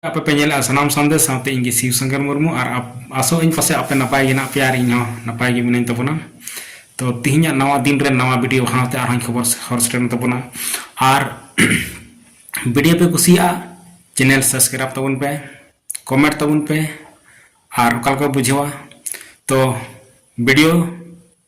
ᱟᱯᱮ ᱯᱮ ᱧᱮᱞᱮᱜᱼᱟ ᱥᱟᱱᱟᱢ ᱥᱟᱸᱫᱮᱥ ᱥᱟᱶᱛᱮ ᱤᱧ ᱜᱮ ᱥᱤᱣ ᱥᱚᱝᱠᱚᱨ ᱢᱩᱨᱢᱩ ᱟᱨ ᱟᱥᱚᱜ ᱟᱹᱧ ᱯᱟᱥᱮ ᱟᱯᱮ ᱱᱟᱯᱟᱭ ᱜᱮ ᱦᱮᱱᱟᱜ ᱯᱮᱭᱟ ᱟᱨ ᱤᱧ ᱦᱚᱸ ᱱᱟᱯᱟᱭ ᱜᱮ ᱢᱤᱱᱟᱹᱧ ᱛᱟᱵᱚᱱᱟ ᱛᱚ ᱛᱤᱦᱤᱧᱟᱜ ᱱᱟᱣᱟ ᱫᱤᱱ ᱨᱮ ᱱᱟᱣᱟ ᱵᱷᱤᱰᱤᱭᱳ ᱥᱟᱶᱛᱮ ᱟᱨᱦᱚᱸᱧ ᱠᱷᱚᱵᱚᱨ ᱦᱚᱨ ᱥᱮᱴᱮᱨ ᱛᱟᱵᱚᱱᱟ ᱟᱨ ᱵᱷᱤᱰᱤᱭᱳ ᱯᱮ ᱠᱩᱥᱤᱭᱟᱜᱼᱟ ᱪᱮᱱᱮᱞ ᱥᱟᱵᱥᱠᱨᱟᱭᱤᱵ ᱛᱟᱵᱚᱱ ᱯᱮ ᱠᱚᱢᱮᱱᱴ ᱛᱟᱵᱚᱱ ᱯᱮ ᱟᱨ ᱚᱠᱟ ᱞᱮᱠᱟ ᱵᱩᱡᱷᱟᱹᱣᱟ ᱛᱚ ᱵᱷᱤᱰᱤᱭᱳ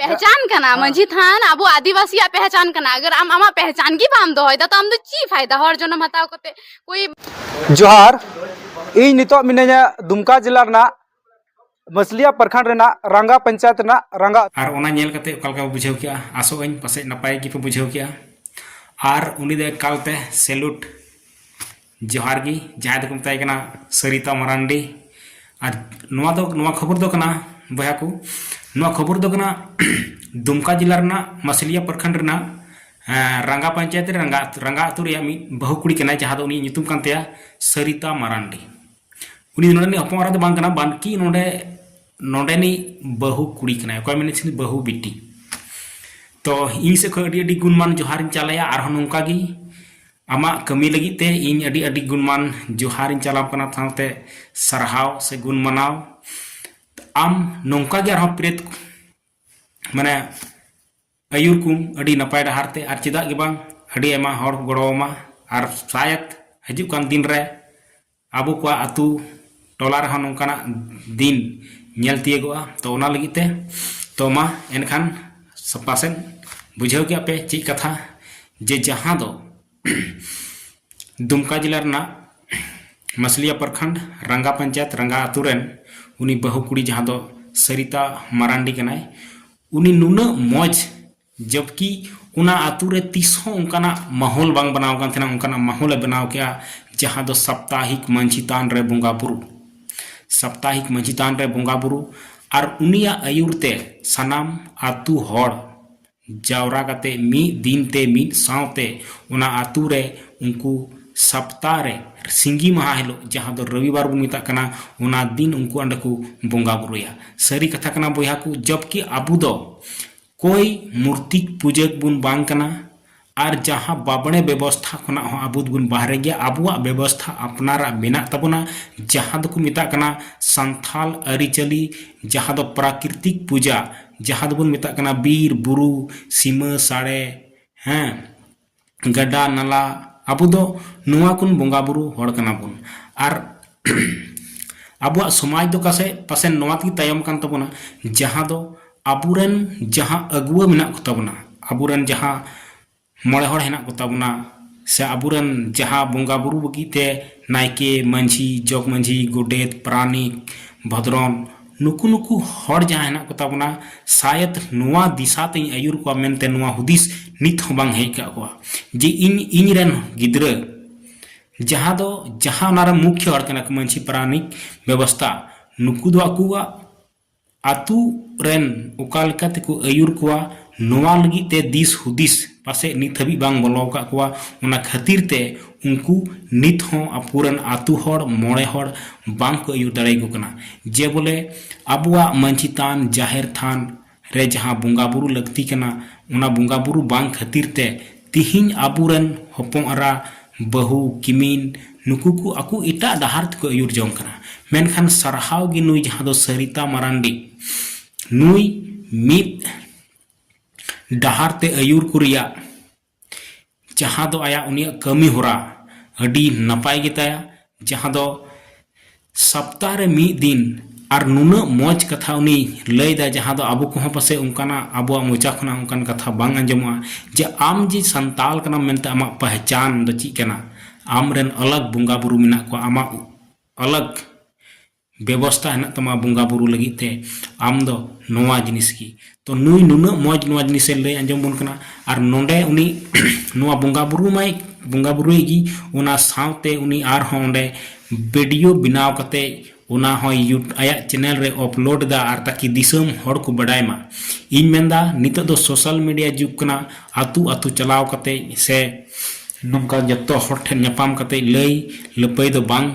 ᱯᱮᱦᱪᱟᱱ ᱠᱟᱱᱟ ᱢᱟᱹᱡᱷᱤ ᱛᱷᱟᱱ ᱟᱵᱚ ᱟᱹᱫᱤᱵᱟᱹᱥᱤᱭᱟᱜ ᱯᱮᱦᱪᱟᱱ ᱠᱟᱱᱟ ᱟᱜᱟᱨ ᱟᱢ ᱟᱢᱟᱜ ᱯᱮᱦᱪᱟᱱ ᱜᱮ ᱵᱟᱢ ᱫᱚᱦᱚᱭ ᱫᱟ ᱛᱚ ᱟᱢ ᱫᱚ ᱪᱮᱫ ᱯᱷᱟᱭᱫᱟ ᱦᱚᱲ ᱡᱚᱱᱚᱢ ᱦᱟᱛᱟᱣ ᱠᱟᱛᱮ ᱠᱚᱭ ᱡᱚᱦᱟᱨ ᱤᱧ ᱱᱤᱛᱚᱜ ᱢᱤᱱᱟᱹᱧᱟ ᱫᱩᱢᱠᱟ ᱡᱮᱞᱟ ᱨᱮᱱᱟᱜ ᱢᱟᱥᱞᱤᱭᱟ ᱯᱨᱠᱷᱚᱸᱰ ᱨᱮᱱᱟᱜ ᱨᱟᱝᱜᱟ ᱯᱚᱧᱪᱟᱭᱮᱛ ᱨᱮᱱᱟᱜ ᱨᱟᱝᱜᱟ ᱟᱨ ᱚᱱᱟ ᱧᱮᱞ ᱠᱟᱛᱮ ᱚᱠᱟ ᱞᱮᱠᱟ ᱵᱩᱡᱷᱟᱹᱣ ᱠᱮᱜᱼᱟ ᱟᱥᱚᱜ ᱟᱹᱧ ᱯᱟᱥᱮᱡ ᱱᱟᱯᱟᱭ ᱜᱮᱯᱮ ᱵᱩᱡᱷᱟᱹᱣ ᱠᱮᱜᱼᱟ ᱟᱨ ᱩᱱᱤ ᱫᱚ ᱮᱠᱟᱞᱛᱮ ᱥᱮᱞᱩᱴ ᱡᱚᱦᱟᱨ ᱜᱮ ᱡᱟᱦᱟᱸᱭ ᱫᱚᱠᱚ ᱢᱮᱛᱟᱭ ᱠᱟᱱᱟ ᱥᱟᱹᱨᱤᱛᱟ ᱢᱟᱨᱟᱱᱰᱤ ᱟᱨ ᱱᱚᱣᱟ ᱫᱚ ᱱᱚᱣᱟ ᱠᱷᱚᱵᱚᱨ ᱫᱚ ᱠᱟᱱᱟ ᱵᱚᱭᱦᱟ ᱠᱚ ᱱᱚᱣᱟ ᱠᱷᱚᱵᱚᱨ ᱫᱚ ᱠᱟᱱᱟ ᱫᱩᱢᱠᱟ ᱡᱮᱞᱟ ᱨᱮᱱᱟᱜ ᱢᱟᱥᱞᱤᱭᱟ ᱯᱨᱚᱠᱷᱚᱸᱰ ᱨᱮᱱᱟᱜ ᱨᱟᱸᱜᱟ ᱯᱚᱧᱪᱟᱭᱮᱛ ᱨᱮ ᱨᱟᱸᱜᱟ ᱨᱟᱸᱜᱟ ᱟᱹᱛᱩ ᱨᱮᱭᱟᱜ ᱢᱤᱫ ᱵᱟᱹᱦᱩ ᱠᱩᱲᱤ ᱠᱟᱱᱟᱭ ᱡᱟᱦᱟᱸ ᱫᱚ ᱩᱱᱤ ᱧᱩᱛᱩᱢ ᱠᱟᱱ ᱛᱟᱭᱟ ᱥᱟᱹᱨᱤᱛᱟ ᱢᱟᱨᱟᱱᱰᱤ ᱩᱱᱤ ᱫᱚ ᱱᱚᱰᱮᱱᱤᱡ ᱦᱚᱯᱚᱱ ᱮᱨᱟ ᱫᱚ ᱵᱟᱝ ᱠᱟᱱᱟ ᱵᱟᱱᱠᱤ ᱱᱚᱰᱮ ᱱᱚᱰᱮᱱᱤᱡ ᱵᱟᱹᱦᱩ ᱠᱩᱲᱤ ᱠᱟᱱᱟᱭ ᱚᱠᱚᱭ ᱢᱮᱱᱮᱫ ᱛᱟᱦᱮᱸ ᱵᱟᱹᱦᱩ ᱵᱤᱴᱤ ᱛᱚ ᱤᱧ ᱥᱮᱫ ᱠᱷᱚᱱ ᱟᱹᱰᱤ ᱟᱹᱰᱤ ᱜᱩᱱᱢᱟᱱ ᱡᱚᱦᱟᱨᱤᱧ ᱪᱟᱞᱟᱭᱟ ᱟᱨᱦᱚᱸ ᱱᱚᱝᱠᱟ ᱜᱮ ᱟᱢᱟᱜ ᱠᱟᱹᱢᱤ ᱞᱟᱹᱜᱤᱫ ᱛᱮ ᱤᱧ ᱟᱹᱰᱤ ᱟᱹᱰᱤ ᱜᱩᱱᱢᱟᱱ ᱡᱚᱦᱟᱨ ᱤᱧ ᱪᱟᱞᱟᱣ ᱠᱟᱱᱟ ᱥᱟᱶᱛᱮ ᱥᱟᱨᱦᱟᱣ ᱥᱮ ᱜᱩᱱ ᱢᱟᱱᱟᱣ ᱟᱢ ᱱᱚᱝᱠᱟ ᱜᱮ ᱟᱨᱦᱚᱸ ᱯᱨᱮᱛ ᱢᱟᱱᱮ ᱟᱹᱭᱩᱨ ᱠᱚᱢ ᱟᱹᱰᱤ ᱱᱟᱯᱟᱭ ᱰᱟᱦᱟᱨ ᱛᱮ ᱟᱨ ᱪᱮᱫᱟᱜ ᱜᱮ ᱵᱟᱝ ᱟᱹᱰᱤ ᱟᱭᱢᱟ ᱦᱚᱲ ᱠᱚ ᱜᱚᱲᱚ ᱟᱢᱟ ᱟᱨ ᱥᱟᱭᱟᱫ ᱦᱤᱡᱩᱜ ᱠᱟᱱ ᱫᱤᱱ ᱨᱮ ᱟᱵᱚ ᱠᱚᱣᱟᱜ ᱟᱹᱛᱩ ᱴᱚᱞᱟ ᱨᱮᱦᱚᱸ ᱱᱚᱝᱠᱟᱱᱟᱜ ᱫᱤᱱ ᱧᱮᱞ ᱛᱤᱭᱳᱜᱚᱜᱼᱟ ᱛᱚ ᱚᱱᱟ ᱞᱟᱹᱜᱤᱫ ᱛᱮ ᱛᱚ ᱢᱟ ᱮᱱᱠᱷᱟᱱ ᱯᱟᱥᱮᱡ ᱵᱩᱡᱷᱟᱹᱣ ᱠᱮᱜ ᱟᱯᱮ ᱪᱮᱫ ᱠᱟᱛᱷᱟ ᱡᱮ ᱡᱟᱦᱟᱸ ᱫᱚ ᱫᱩᱢᱠᱟ ᱡᱮᱞᱟ ᱨᱮᱱᱟᱜ ᱢᱟᱥᱞᱤᱭᱟ ᱯᱨᱚᱠᱷᱚᱸᱰ ᱨᱟᱝᱜᱟ ᱯᱚᱧᱪᱟᱭᱮᱛ ᱨᱟᱝᱜᱟ ᱟᱹᱛᱩ ᱨᱮᱱ ᱩᱱᱤ ᱵᱟᱹᱦᱩ ᱠᱩᱲᱤ ᱡᱟᱦᱟᱸ ᱫᱚ ᱥᱟᱹᱨᱤᱛᱟ ᱢᱟᱨᱟᱱᱰᱤ ᱠᱟᱱᱟᱭ ᱩᱱᱤ ᱱᱩᱱᱟᱹᱜ ᱢᱚᱡᱽ ᱡᱚᱵᱠᱤ ᱚᱱᱟ ᱟᱛᱳ ᱨᱮ ᱛᱤᱥ ᱦᱚᱸ ᱚᱱᱠᱟᱱᱟᱜ ᱢᱟᱦᱚᱞ ᱵᱟᱝ ᱵᱮᱱᱟᱣ ᱟᱠᱟᱱ ᱛᱟᱦᱮᱱᱟ ᱚᱱᱠᱟᱱᱟᱜ ᱢᱟᱦᱚᱞ ᱮ ᱵᱮᱱᱟᱣ ᱠᱮᱫᱼᱟ ᱡᱟᱦᱟᱸ ᱫᱚ ᱥᱟᱯᱛᱟᱦᱤᱠ ᱢᱟᱹᱡᱷᱤ ᱛᱷᱟᱱ ᱨᱮ ᱵᱚᱸᱜᱟ ᱵᱩᱨᱩ ᱥᱟᱯᱛᱟᱦᱤᱠ ᱢᱟᱹᱡᱷᱤ ᱛᱷᱟᱱ ᱨᱮ ᱵᱚᱸᱜᱟ ᱵᱩᱨᱩ ᱟᱨ ᱩᱱᱤᱭᱟᱜ ᱟᱹᱭᱩᱨ ᱛᱮ ᱥᱟᱱᱟᱢ ᱟᱛᱳ ᱦᱚᱲ ᱡᱟᱣᱨᱟ ᱠᱟᱛᱮ ᱢᱤᱫ ᱫᱤᱱ ᱛᱮ ᱢᱤᱫ ᱥᱟᱶᱛᱮ ᱚᱱᱟ ᱟᱛᱳ ᱨᱮ ᱩᱱᱠᱩ ᱥᱟᱯᱛᱟᱦᱚ ᱨᱮ ᱥᱤᱸᱜᱤ ᱢᱟᱦᱟ ᱦᱤᱞᱳᱜ ᱡᱟᱦᱟᱸ ᱫᱚ ᱨᱚᱵᱤ ᱵᱟᱨ ᱵᱚᱱ ᱢᱮᱛᱟᱜ ᱠᱟᱱᱟ ᱚᱱᱟ ᱫᱤᱱ ᱩᱱᱠᱩ ᱚᱸᱰᱮ ᱠᱚ ᱵᱚᱸᱜᱟ ᱵᱩᱨᱩᱭᱟ ᱥᱟᱹᱨᱤ ᱠᱟᱛᱷᱟ ᱠᱟᱱᱟ ᱵᱚᱭᱦᱟ ᱠᱚ ᱡᱚᱵᱠᱤ ᱟᱵᱚ ᱫᱚ ᱠᱚᱭ ᱢᱩᱨᱛᱤᱠ ᱯᱩᱡᱟᱹᱠ ᱵᱚᱱ ᱵᱟᱝ ᱠᱟᱱᱟ ᱟᱨ ᱡᱟᱦᱟᱸ ᱵᱟᱵᱽᱬᱮ ᱵᱮᱵᱚᱥᱛᱷᱟ ᱠᱷᱚᱱᱟᱜ ᱦᱚᱸ ᱟᱵᱚ ᱫᱚᱵᱚᱱ ᱵᱟᱦᱨᱮ ᱜᱮᱭᱟ ᱟᱵᱚᱣᱟᱜ ᱵᱮᱵᱚᱥᱛᱷᱟ ᱟᱯᱱᱟᱨᱟᱜ ᱢᱮᱱᱟᱜ ᱛᱟᱵᱚᱱᱟ ᱡᱟᱦᱟᱸ ᱫᱚᱠᱚ ᱢᱮᱛᱟᱜ ᱠᱟᱱᱟ ᱥᱟᱱᱛᱷᱟᱞ ᱟᱹᱨᱤᱪᱟᱹᱞᱤ ᱡᱟᱦᱟᱸ ᱫᱚ ᱯᱨᱟᱠᱨᱤᱛᱤᱠ ᱯᱩᱡᱟ ᱡᱟᱦᱟᱸ ᱫᱚᱵᱚᱱ ᱢᱮᱛᱟᱜ ᱠᱟᱱᱟ ᱵᱤᱨ ᱵᱩᱨᱩ ᱥᱤᱢᱟᱹ ᱥᱟᱲᱮ ᱦᱮᱸ ᱜᱟᱰᱟ ᱱᱟᱞᱟ ᱟᱵᱚ ᱫᱚ ᱱᱚᱣᱟ ᱠᱚ ᱵᱚᱸᱜᱟ ᱵᱩᱨᱩ ᱦᱚᱲ ᱠᱟᱱᱟ ᱵᱚᱱ ᱟᱨ ᱟᱵᱚᱣᱟᱜ ᱥᱚᱢᱟᱡᱽ ᱫᱚ ᱯᱟᱥᱮ ᱯᱟᱥᱮ ᱱᱚᱣᱟ ᱛᱮᱜᱮ ᱛᱟᱭᱚᱢ ᱟᱠᱟᱱ ᱛᱟᱵᱚᱱᱟ ᱡᱟᱦᱟᱸ ᱫᱚ ᱟᱵᱚ ᱨᱮᱱ ᱡᱟᱦᱟᱸ ᱟᱹᱜᱩᱣᱟᱹ ᱢᱮᱱᱟᱜ ᱠᱚᱛᱟ ᱵᱚᱱᱟ ᱟᱵᱚ ᱨᱮᱱ ᱡᱟᱦᱟᱸ ᱢᱚᱬᱮ ᱦᱚᱲ ᱦᱮᱱᱟᱜ ᱠᱚᱛᱟ ᱵᱚᱱᱟ ᱥᱮ ᱟᱵᱚ ᱨᱮᱱ ᱡᱟᱦᱟᱸ ᱵᱚᱸᱜᱟ ᱵᱩᱨᱩ ᱞᱟᱹᱜᱤᱫ ᱛᱮ ᱱᱟᱭᱠᱮ ᱢᱟᱹᱡᱷᱤ ᱡᱚᱜᱽ ᱢᱟᱹᱡᱷᱤ ᱜᱚᱰᱮᱛ ᱯᱟᱨᱟᱱᱤᱠ ᱵᱷᱚᱫᱽᱨᱚᱱ ᱱᱩᱠᱩ ᱱᱩᱠᱩ ᱦᱚᱲ ᱡᱟᱦᱟᱸ ᱦᱮᱱᱟᱜ ᱠᱚ ᱛᱟᱵᱚᱱᱟ ᱥᱟᱭᱮᱫ ᱱᱚᱣᱟ ᱫᱤᱥᱟ ᱛᱮᱧ ᱟᱹᱭᱩᱨ ᱠᱚᱣᱟ ᱢᱮᱱᱛᱮ ᱱᱚᱣᱟ ᱦᱩᱫᱤᱥ ᱱᱤᱛ ᱦᱚᱸ ᱵᱟᱝ ᱦᱮᱡ ᱠᱟᱜ ᱠᱚᱣᱟ ᱡᱮ ᱤᱧ ᱤᱧ ᱨᱮᱱ ᱜᱤᱫᱽᱨᱟᱹ ᱡᱟᱦᱟᱸ ᱫᱚ ᱡᱟᱦᱟᱸ ᱚᱱᱟ ᱨᱮ ᱢᱩᱠᱷᱭᱚ ᱦᱚᱲ ᱠᱟᱱᱟ ᱠᱚ ᱢᱟᱹᱡᱷᱤ ᱯᱟᱨᱟᱱᱤᱠ ᱵᱮᱵᱚᱥᱛᱟ ᱱᱩᱠᱩ ᱫᱚ ᱟᱠᱚᱣᱟᱜ ᱟᱛᱳ ᱨᱮᱱ ᱚᱠᱟ ᱞᱮᱠᱟ ᱛᱮᱠᱚ ᱟᱹᱭᱩᱨ ᱠᱚᱣᱟ ᱱᱚᱣᱟ ᱞᱟᱹᱜᱤᱫ ᱛᱮ ᱫᱤᱥ ᱦᱩᱫᱤᱥ ᱯᱟᱥᱮᱡ ᱱᱤᱛ ᱦᱟᱹᱵᱤᱡ ᱵᱟᱝ ᱵᱚᱞᱚ ᱟᱠᱟᱫ ᱠᱚᱣᱟ ᱚᱱᱟ ᱠᱷᱟᱹᱛᱤᱨ ᱛᱮ ᱩᱱᱠᱩ ᱱᱤᱛ ᱦᱚᱸ ᱟᱠᱚ ᱨᱮᱱ ᱟᱹᱛᱩ ᱦᱚᱲ ᱢᱚᱬᱮ ᱦᱚᱲ ᱵᱟᱝ ᱠᱚ ᱟᱹᱭᱩᱨ ᱫᱟᱲᱮ ᱟᱠᱚ ᱠᱟᱱᱟ ᱡᱮ ᱵᱚᱞᱮ ᱟᱵᱚᱣᱟᱜ ᱢᱟᱹᱡᱷᱤ ᱛᱷᱟᱱ ᱡᱟᱦᱮᱨ ᱛᱷᱟᱱ ᱨᱮ ᱡᱟᱦᱟᱸ ᱵᱚᱸᱜᱟ ᱵᱳᱨᱳ ᱞᱟᱹᱠᱛᱤ ᱠᱟᱱᱟ ᱚᱱᱟ ᱵᱚᱸᱜᱟ ᱵᱳᱨᱳ ᱵᱟᱝ ᱠᱷᱟᱹᱛᱤᱨ ᱛᱮ ᱛᱮᱦᱮᱧ ᱟᱵᱚ ᱨᱮᱱ ᱦᱚᱯᱚᱱ ᱮᱨᱟ ᱵᱟᱹᱦᱩ ᱠᱤᱢᱤᱱ ᱱᱩᱠᱩ ᱠᱚ ᱟᱠᱚ ᱮᱴᱟᱜ ᱰᱟᱦᱟᱨ ᱛᱮᱠᱚ ᱟᱹᱭᱩᱨ ᱡᱚᱝ ᱠᱟᱱᱟ ᱢᱮᱱᱠᱷᱟᱱ ᱥᱟᱨᱦᱟᱣ ᱜᱮ ᱱᱩᱭ ᱡᱟᱦᱟᱸ ᱫᱚ ᱥᱟᱹᱨᱤᱛᱟ ᱢᱟᱨᱟᱱᱰᱤ ᱱᱩᱭ ᱢᱤᱫ ᱰᱟᱦᱟᱨ ᱛᱮ ᱟᱹᱭᱩᱨ ᱠᱚ ᱨᱮᱭᱟᱜ ᱡᱟᱦᱟᱸ ᱫᱚ ᱟᱭᱟᱜ ᱩᱱᱤᱭᱟᱜ ᱠᱟᱹᱢᱤ ᱦᱚᱨᱟ ᱟᱹᱰᱤ ᱱᱟᱯᱟᱭ ᱜᱮᱛᱟᱭᱟ ᱡᱟᱦᱟᱸ ᱫᱚ ᱥᱚᱯᱛᱟᱦᱚ ᱨᱮ ᱢᱤᱫ ᱫᱤᱱ ᱟᱨ ᱱᱩᱱᱟᱹᱜ ᱢᱚᱡᱽ ᱠᱟᱛᱷᱟ ᱩᱱᱤ ᱞᱟᱹᱭᱫᱟ ᱡᱟᱦᱟᱸ ᱫᱚ ᱟᱵᱚ ᱠᱚᱦᱚᱸ ᱯᱟᱥᱮᱡ ᱚᱱᱠᱟᱱᱟᱜ ᱟᱵᱚᱣᱟᱜ ᱢᱚᱪᱟ ᱠᱷᱚᱱᱟᱜ ᱚᱱᱠᱟᱱ ᱠᱟᱛᱷᱟ ᱵᱟᱝ ᱟᱸᱡᱚᱢᱚᱜᱼᱟ ᱡᱮ ᱟᱢ ᱡᱮ ᱥᱟᱱᱛᱟᱲ ᱠᱟᱱᱟᱢ ᱢᱮᱱᱛᱮ ᱟᱢᱟᱜ ᱯᱮᱦᱪᱟᱱ ᱫᱚ ᱪᱮᱫ ᱠᱟᱱᱟ ᱟᱢ ᱨᱮᱱ ᱟᱞᱟᱜᱽ ᱵᱚᱸᱜᱟ ᱵᱩᱨᱩ ᱢᱮᱱᱟᱜ ᱠᱚᱣᱟ ᱟᱢᱟᱜ ᱟᱞᱟᱜᱽ ᱵᱮᱵᱚᱥᱛᱟ ᱦᱮᱱᱟᱜ ᱛᱟᱢᱟ ᱵᱚᱸᱜᱟ ᱵᱩᱨᱩ ᱞᱟᱹᱜᱤᱫ ᱛᱮ ᱟᱢ ᱫᱚ ᱱᱚᱣᱟ ᱡᱤᱱᱤᱥ ᱜᱮ ᱛᱚ ᱱᱩᱭ ᱱᱩᱱᱟᱹᱜ ᱢᱚᱡᱽ ᱱᱚᱣᱟ ᱡᱤᱱᱤᱥ ᱮ ᱞᱟᱹᱭ ᱟᱸᱡᱚᱢ ᱟᱵᱚᱱ ᱠᱟᱱᱟ ᱟᱨ ᱱᱚᱰᱮ ᱩᱱᱤ ᱱᱚᱣᱟ ᱵᱚᱸᱜᱟ ᱵᱩᱨᱩ ᱢᱟᱭ ᱵᱚᱸᱜᱟ ᱵᱩᱨᱩᱭ ᱜᱮ ᱚᱱᱟ ᱥᱟᱶᱛᱮ ᱩᱱᱤ ᱟᱨ ᱦᱚᱸ ᱚᱸᱰᱮ ᱵᱷᱤᱰᱤᱭᱳ ᱵᱮᱱᱟᱣ ᱠᱟᱛᱮ ᱚᱱᱟ ᱦᱚᱸᱭ ᱟᱭᱟᱜ ᱪᱮᱱᱮᱞ ᱨᱮ ᱟᱯᱞᱳᱰ ᱮᱫᱟ ᱟᱨ ᱛᱟᱠᱤ ᱫᱤᱥᱚᱢ ᱦᱚᱲ ᱠᱚ ᱵᱟᱰᱟᱭ ᱢᱟ ᱤᱧ ᱢᱮᱱ ᱮᱫᱟ ᱱᱤᱛᱚᱜ ᱫᱚ ᱥᱳᱥᱟᱞ ᱢᱤᱰᱤᱭᱟ ᱡᱩᱜᱽ ᱠᱟᱱᱟ ᱟᱹᱛᱩ ᱟᱹᱛᱩ ᱪᱟᱞᱟᱣ ᱠᱟᱛᱮ ᱥᱮ ᱱᱚᱝᱠᱟ ᱡᱚᱛᱚ ᱦᱚᱲ ᱴᱷᱮᱱ ᱧᱟᱯᱟᱢ ᱠᱟᱛᱮ ᱞᱟᱹᱭ ᱞᱟᱹᱯᱟᱹᱭ ᱫᱚ ᱵᱟᱝ